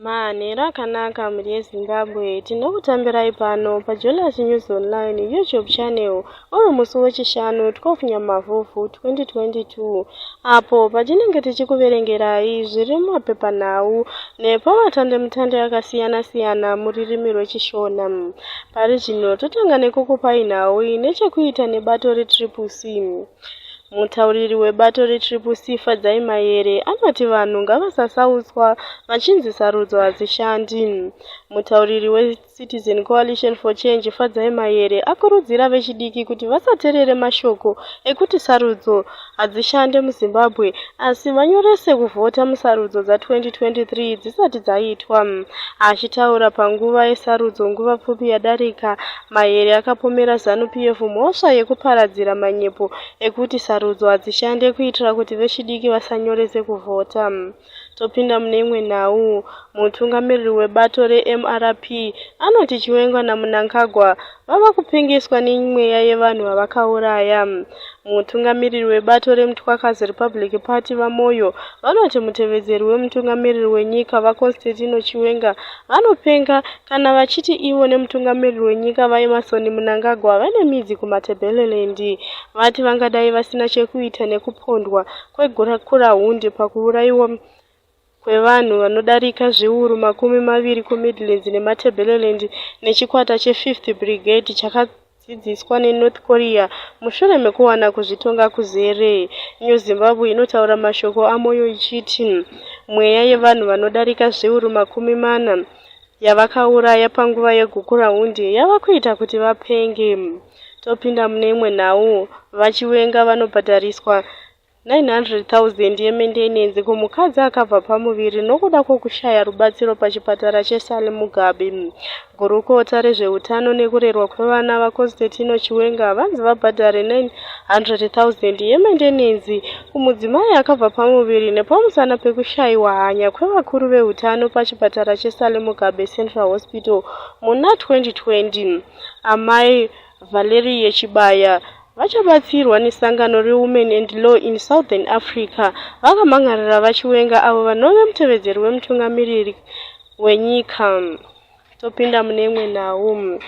Manhero akanaka mhuri yeZimbabwe, tinokutambirai pano paJolas News Online YouTube channel uri musi weChishanu 12 Nyamavhuvhu 2022 apo patinenge tichikuverengerai zviri mumapepanhau nepamatandemutande akasiyana-siyana muririmi rweChishona. Pari zvino totanga nekukupai nhau ine chekuita nebato reTriple C. Mutauriri webato reTriple C Fadzai Mayere anoti vanhu ngavasasautswa vachinzi sarudzo hadzishandi. Mutauriri weCitizen Coalition for Change Fadzai Mayere akurudzira vechidiki kuti vasaterere mashoko ekuti sarudzo hadzishande muZimbabwe asi vanyorese kuvhota musarudzo dza2023 dzisati dzaitwa. Achitaura panguva yesarudzo nguva pfupi yadarika, Mayere akapomera Zanu PF mhosva yekuparadzira manyepo ekuti sarudzo hadzishande kuitira kuti vechidiki vasanyorese kuvhota. Topinda mune imwe nhau. Mutungamiriri webato reMRP anoti Chiwenga naMunangagwa vava kupengeswa nemweya yevanhu vavakauraya. Mutungamiriri webato reMtwakazi Republic Party VaMoyo vanoti mutevedzeri wemutungamiriri wenyika VaConstantino Chiwenga Vanopenga kana vachiti ivo nemutungamiriri wenyika VaEmmerson Mnangagwa vane midzi kuMatabeleland. Vati vangadai vasina chekuita nekupondwa kwegukurahundi pakuuraiwa kwevanhu vanodarika zviuru makumi maviri kuMidlands neMatabeleland nechikwata cheFifth Brigade chaka dzidziswa neNorth Korea mushure mekuwana kuzvitonga kuzere. New Zimbabwe inotaura mashoko aMoyo ichiti mweya yevanhu vanodarika zviuru makumi mana yavakauraya panguva yegukurahundi yava kuita kuti vapenge. Topinda mune imwe nhau, VaChiwenga vanobhadhariswa 900,000 yemendenenzi kumukadzi akabva pamuviri nokuda kwokushaya rubatsiro pachipatara cheSally Mugabe. Gurukota rezveutano nekurerwa kwevana VaConstantino Chiwenga vanzi vabhadhare 900,000 yemendenenzi kumudzimai akabva pamuviri nepamusana pekushayiwa hanya kwevakuru veutano pachipatara cheSally Mugabe Central Hospital muna 2020. Amai Valerie Chibaya vachabatsirwa nesangano reWomen and Law in Southern Africa vakamhan'arira VaChiwenga avo vanove mutevedzeri wemutungamiriri wenyika. Topinda mune imwe nhau.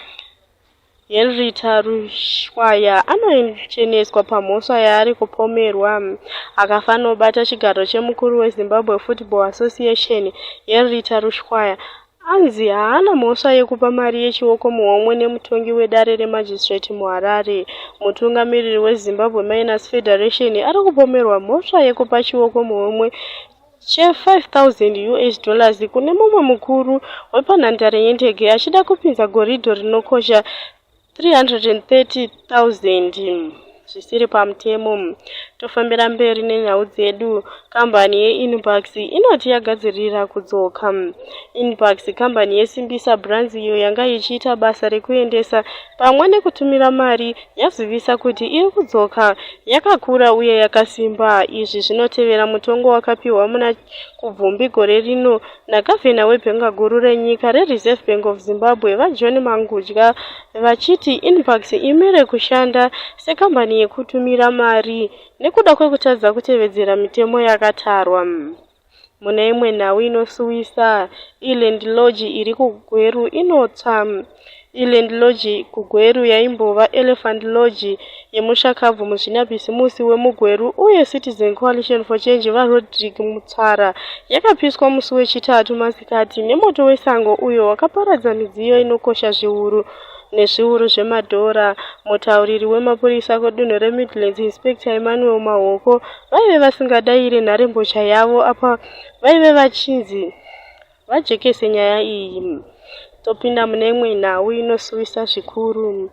Henrietta Rushwaya anocheneswa pamhosva yaari kupomerwa akafanobata chigaro chemukuru weZimbabwe Football Association. Henrietta Rushwaya Anzi haana mhosva yekupa mari yechioko muhomwe nemutongi wedare remagistrate muHarare. Mutungamiriri weZimbabwe Miners Federation ari kupomerwa mhosva yekupa chioko muhomwe che-5000 US dollars kune mumwe mukuru wepanhandare yendege achida kupinza goridhe rinokosha 330,000 zvisiri pamutemo. Tofambira mberi nenyau dzedu. Kambani yeInbucks inoti yagadzirira kudzoka. Inbucks kambani yeSimbisa Brands iyo yanga ichiita basa rekuendesa pamwe nekutumira mari yazivisa kuti iri kudzoka yakakura uye yakasimba. Izvi zvinotevera mutongo wakapiwa muna Kubvumbi gore rino Nagavhena webhenga guru renyika reReserve Bank of Zimbabwe, VaJohn Mangudya, vachiti Inbucks imire kushanda sekambani yekutumira mari nekuda kwekutadza kutevedzera mitemo yakatarwa. Mune imwe nhau inosuwisa, iLand Lodge iri kuGweru inotsva. Eland Lodge kuGweru yaimbova Elephant Lodge yemushakabvu muzvinabhizimusi wemuGweru uye Citizen Coalition for Change VaRodrick Mutsara yakapiswa musi weChitatu masikati nemoto wesango uyo wakaparadza midziyo inokosha zviuru nezviuru zvemadhora mutauriri wemapurisa kudunhu remidlands inspector emmanuel mahoko vaive vasingadaire nharembozha yavo apa vaive vachinzi vajekese nyaya iyi topinda mune imwe nhau inosuwisa zvikuru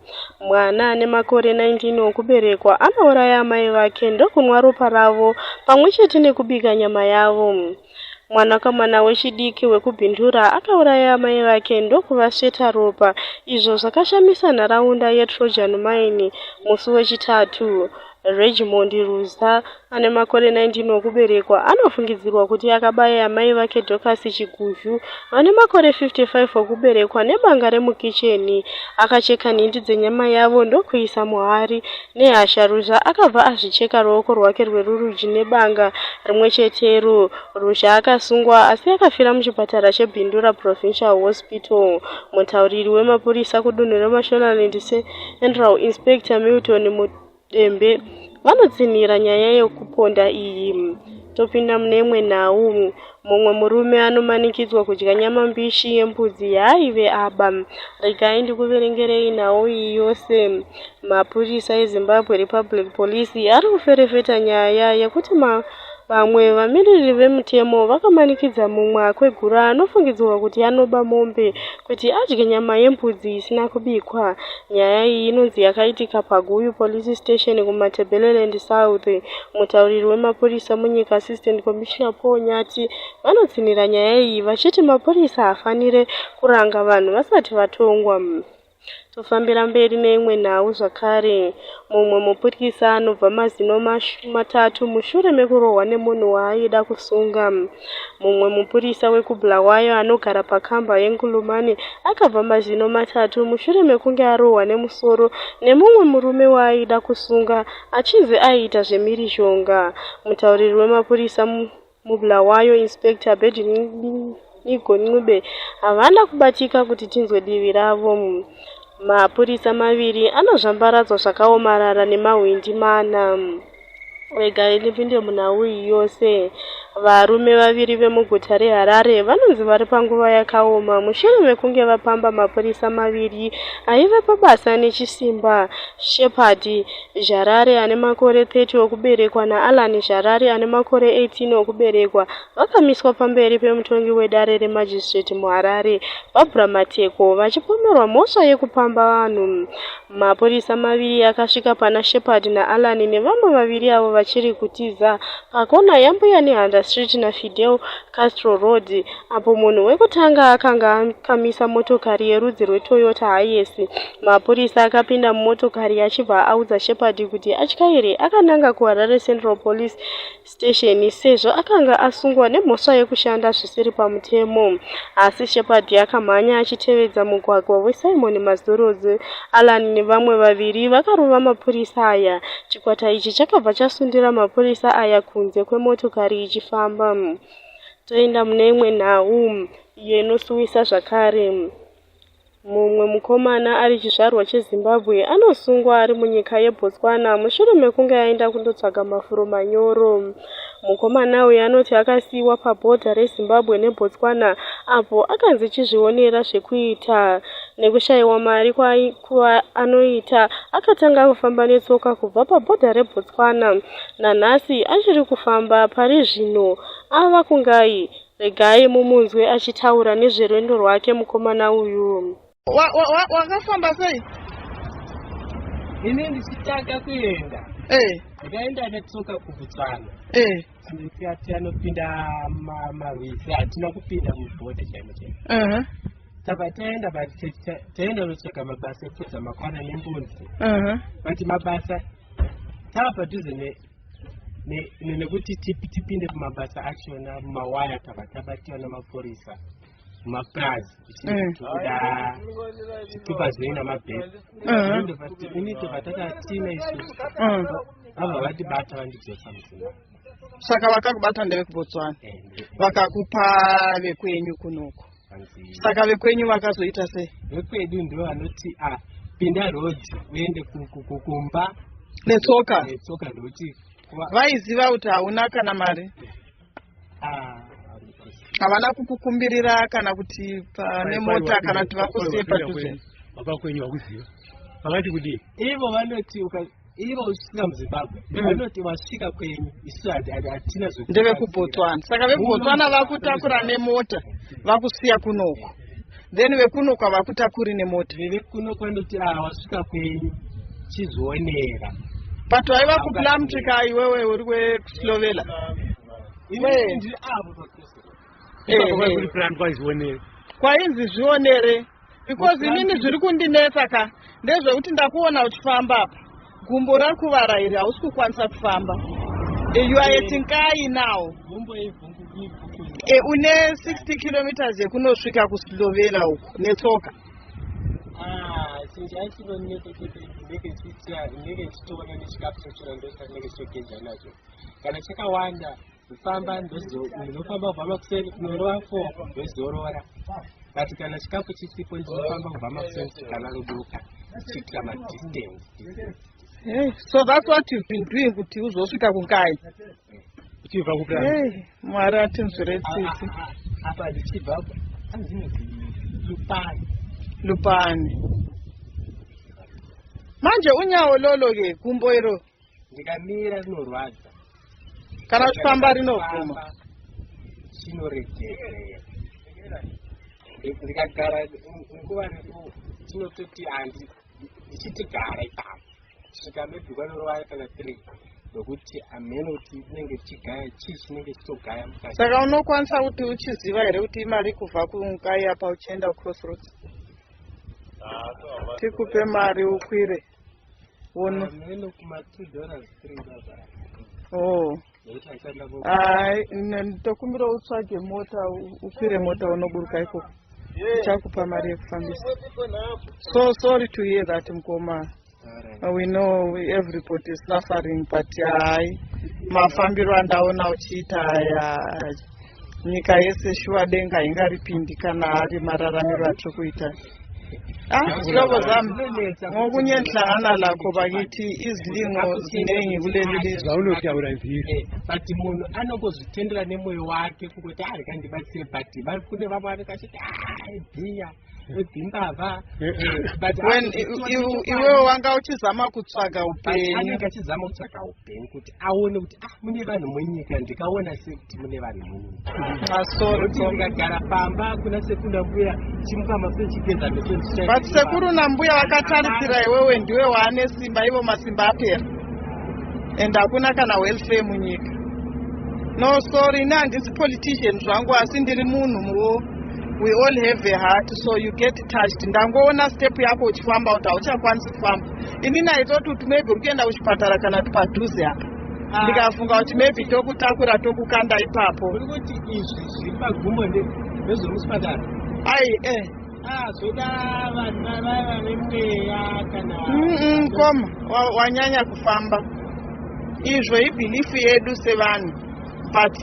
mwana ane makore 19 okuberekwa anouraya amai vake ndokunwa ropa ravo pamwe chete nekubika nyama yavo mwanakomana wechidiki wekubhindura akauraya amai vake ndokuvasveta ropa izvo zvakashamisa nharaunda yetrojan mine musi wechitatu Regimond Ruza, ane makore 19 okuberekwa, anofungidzirwa kuti akabaya amai vake Dorcas Chiguzhu, vane makore 55 okuberekwa, nebanga remukicheni, akacheka nhindi dzenyama yavo ndokuisa muhari. Nehasha, Ruza akabva azvicheka ruoko rwake rwerurudyi nebanga rimwe chetero. Ruza akasungwa asi akafira muchipatara cheBindura Provincial Hospital. Mutauriri wemapurisa kudunhu reMashonaland Central, Inspector Milton Dembe vanotsinhira nyaya yekuponda iyi. Topinda mune imwe nhau. Mumwe murume anomanikidzwa kudya nyama mbishi yembudzi yaaive aba. Regai ndikuverengerei nhau iyi yose. Mapurisa eZimbabwe Republic Police ari kuferefeta nyaya yekuti ma Vamwe vamiririri vemutemo vakamanikidza mumwe akwegura anofungidzirwa kuti anoba mombe kuti adye nyama yembudzi isina kubikwa. Nyaya iyi inonzi yakaitika paGuyu Police Station kuMatebeleland South. Mutauriri wemapurisa munyika Assistant Commissioner Paul Nyati vanotsinhira nyaya iyi vachiti mapurisa hafanire kuranga vanhu vasati vatongwa. Tofambira mberi neimwe nhau zvakare. Mumwe mupurisa anobva mazino matatu mushure mekurohwa nemunhu waaida kusunga. Mumwe mupurisa wekuBulawayo anogara pakamba yeNkulumane akabva mazino matatu mushure mekunge arohwa nemusoro nemumwe murume waaida kusunga achinzi aiita zvemhirizhonga. Mutauriri wemapurisa muBulawayo, Inspector Abed Nigo Ncube, havana kubatika kuti tinzwe divi ravo. Mapurisa maviri anozvambaradzwa zvakaomarara nemahwindi mana. Regai ndipinde munhau iyi yose. Varume vaviri vemuguta reHarare vanonzi vari panguva yakaoma mushure mekunge vapamba mapurisa maviri aive pabasa nechisimba. Shepherd Zharari ane makore 30 okuberekwa naAllan Zharari ane makore 18 okuberekwa vakamiswa pamberi pemutongi wedare remagistrate muHarare, Barbra Mateko, vachipomerwa mhosva yekupamba vanhu. Mapurisa maviri akasvika pana Shepherd naAllan nevamwe vaviri avo vachiri kutiza pakona yaMbuya Nehanda Street naFidel Castro Road, apo munhu wekutanga akanga akamisa motokari yerudzi rweToyota Hiace. Mapurisa akapinda mumotokari achibva audza Shepherd kuti atyaire akananga kuHarare Central Police Station sezvo akanga asungwa nemhosva yekushanda zvisiri pamutemo. Asi Shepherd akamhanya achitevedza mugwagwa weSimon Mazorodze. Alan nevamwe vaviri vakarova mapurisa aya. Chikwata ichi chakabva chasundira mapurisa aya kunze kwemotokari ichifamba. Toenda mune imwe nhau iyo inosuwisa zvakare. Mumwe mukomana ari chizvarwa cheZimbabwe anosungwa ari munyika yeBotswana mushure mekunge aenda kundotsvaga mafuro manyoro. Mukomana uyu anoti akasiyiwa pabhodha reZimbabwe neBotswana apo akanzi chizvionera zvekuita nekushayiwa mari kwaanoita akatanga kufamba netsoka kubva pabhodha rebotswana nanhasi achiri kufamba pari zvino ava kungai regai mumunzwe achitaura nezverwendo rwake mukomana uyu wakafamba wa, wa, sei ini ndichitanga kuenda hey. Eh. ndikaenda netsoka kubotswana hey. Eh. Sisi ati anopinda ma- marwizi hatina kupinda mubhodha chaimo chaimo Mhm, tava taenda but ta- ta- taenda kunotsvaga mabasa ekupedza makwana nembunzi mhm. but mabasa tava padhuze ne- ne- ne- nekuti tipi- tipinde kumabasa achona mumawaya tava tabatira nemapurisa kumapurazi tichitoda chitupa zvinei namabhesi inito patakatiina isusu vabva vatibata vandidzosa musimba saka vakakubata ndevekubotswana vakakupa vekwenyu kunoku saka vekwenyu vakazoita sei vekwedu ndo vanoti a ah, pinda road uende kumba netsoka netsoka ndokuti vaiziva kuti hauna kana mari havana kukukumbirira kana kuti pane mota kana kuti vakusiye padhuze baba kwenyu vakuziva vakati kudii ivo vanoti ivo usvika muzimbabwe mm. vanoti vasvika kwenyu isu hatina ndevekubotswana saka vekubotswana vakutakura nemota vakusiya kunoko then vekuno kwavakuta kuri nemota vekuno kwanoti a ah, wasvika kwenyu chizvionera but waiva kuplamtrika iwewe uri wekuslovela kwainzi zvionere because inini zviri kundinetsa ka ndezvekuti ndakuona uchifamba apa Gumbo rakuvara iri hausi kukwanisa kufamba. Eh, you are at Nkai now. Gumbo E, une 60 kilometers yekunosvika kuSlovenia uku netsoka. Ah, since I still don't make it, make it sweet, make it stone, and it's capsule, and those that make it so dangerous. Kana chakawanda kufamba ndinofamba kubva makuseni kunorova fo ndozorora but kana chikafu chisipo ndinofamba kubva makuseni sikana rodoka ndichiitira madistance hey, so that's what you've been doing kuti uzosvika kungai uchibva kupi hey, mwari atinzwire tsitsi ah, ah, ah, apa ndichibva lupani lupani manje unyawo lolo ke gumbo iro ndikamira rinorwadza kana uchifamba rinobvuma chinoregera ndikagara nguva refu chinototi handi ndichitigara ipapo svika maybe kwanorova kana three nokuti hameno kuti inenge chigaya chii chinenge chitogaya mukati saka unokwanisa kuti uchiziva here kuti imari kubva kungai apa uchienda crossroads ah, tikupe mari ukwire Wono. Amwene kuma 2 dollars 3 dollars. Oh. Ai, ndokumbira utsvage mota, ukwire mota unoburuka ikoko. Chakupa mari yekufambisa. So sorry to hear that mkoma. Right. We know everybody is suffering but hai mafambiro andaona uchiita aya. nyika yese shuwa denga hingaripindi kana ari mararamiro atiri kuita ah, zihlobo zam ngokunye ndihlangana lakho bakithi izilingo ziningi kuleli lizawunotyawula zilo eh, but munhu anokuzvitendela nemoyo wakhe kukuti hayi ah, kandibatsire but kune vamwe avekashiti hayi ah, biya wedzimbavha iwewe wanga uchizama kutsvaga upenyu achizama kutsvaga upenyu kuti aone kuti ah mune vanhu munyika ndikaona sekuti mune vanhu munyika masorotongagara pamba kuna sekuna mbuya chimuka maso chigeza but sekuru nambuya vakatarisira iwewe ndiwe waane simba ivo masimba apera and hakuna kana welfare munyika no sorry ne handisi politician zvangu asi ndiri munhu muwo we all have a heart so you get touched ndangoona step yako uchifamba kuti hauchakwanisi kufamba ini naitoti kuti maybe uri kuenda kuchipatara kana kuti padhuze apa ah. ndikafunga kuti maybe tokutakura tokukanda ipapo uri kuti izvi zviri pagumbo ndezviri muchipatara ai eh ah, zvoda vanhu vavai vane mweya kana koma wanyanya kufamba izvo ibhilifu yedu sevanhu but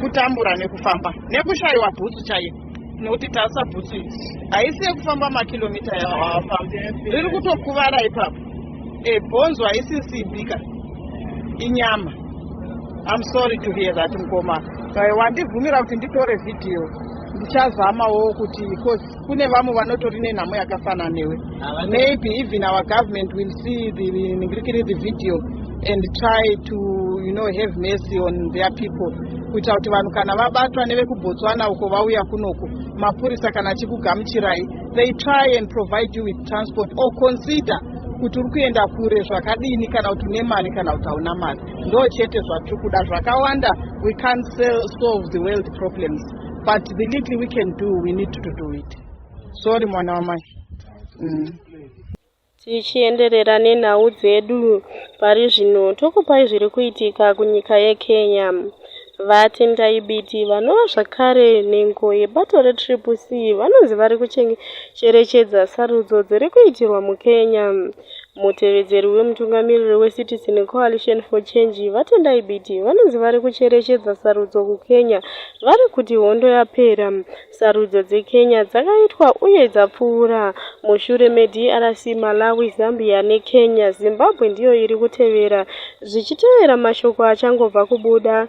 kutambura nekufamba nekushayiwa bhutsu chaiyo nekuti tasa bhutsu iyi haisi yekufamba makilomita yaafamba riri kutokuvara ipapo ebhonzo haisi simbika inyama im sorry to hear that mukoma wandibvumira kuti nditore vhidhiyo ndichazamawo kuti coz kune vamwe vanotori nenhamo yakafanana newe maybe even our government will see the ningirikiri the video and try to you know have mercy on their people kuita kuti vanhu kana vabatwa nevekubotswana uko vauya kunoku mapurisa kana achikugamuchirai they try and provide you with transport or consider kuti uri kuenda kure zvakadini kana kuti une mari kana kuti hauna mari ndo chete zvatiri kuda zvakawanda we can't solve the world problems but the little we can do we need to do it sorry mwana wamai mm. tichienderera nenhau dzedu pari zvino tokupai zviri kuitika kunyika yekenya vatendai biti vanova zvakare nhengo yebato retriple c vanonzi vari kucherechedza sarudzo dziri kuitirwa mukenya Mutevedzeri wemutungamiriri weCitizen Coalition for Change, VaTendai Biti, vanonzi vari kucherechedza sarudzo kuKenya vari kuti hondo yapera. Sarudzo dzeKenya dzakaitwa uye dzapfuura mushure meDRC, Malawi, Zambia neKenya. Zimbabwe ndiyo iri kutevera zvichitevera mashoko achangobva kubuda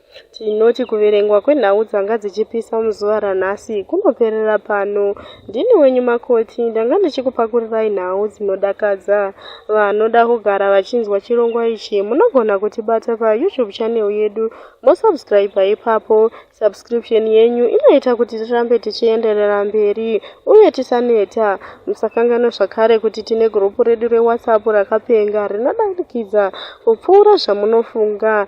Tinoti kuverengwa kwenhau dzanga dzichipisa muzuva ranhasi kunoperera pano. Ndini wenyu Makoti, ndanga ndichikupakurirai nhau dzinodakadza. Vanoda kugara vachinzwa chirongwa ichi munogona kutibata paYouTube channel yedu mosubscriber ipapo. Subscription yenyu inoita kuti tirambe tichienderera mberi uye tisaneta. Musakanganwa zvakare kuti tine gurupu redu reWhatsApp rakapenga rinodarikidza kupfuura zvamunofunga.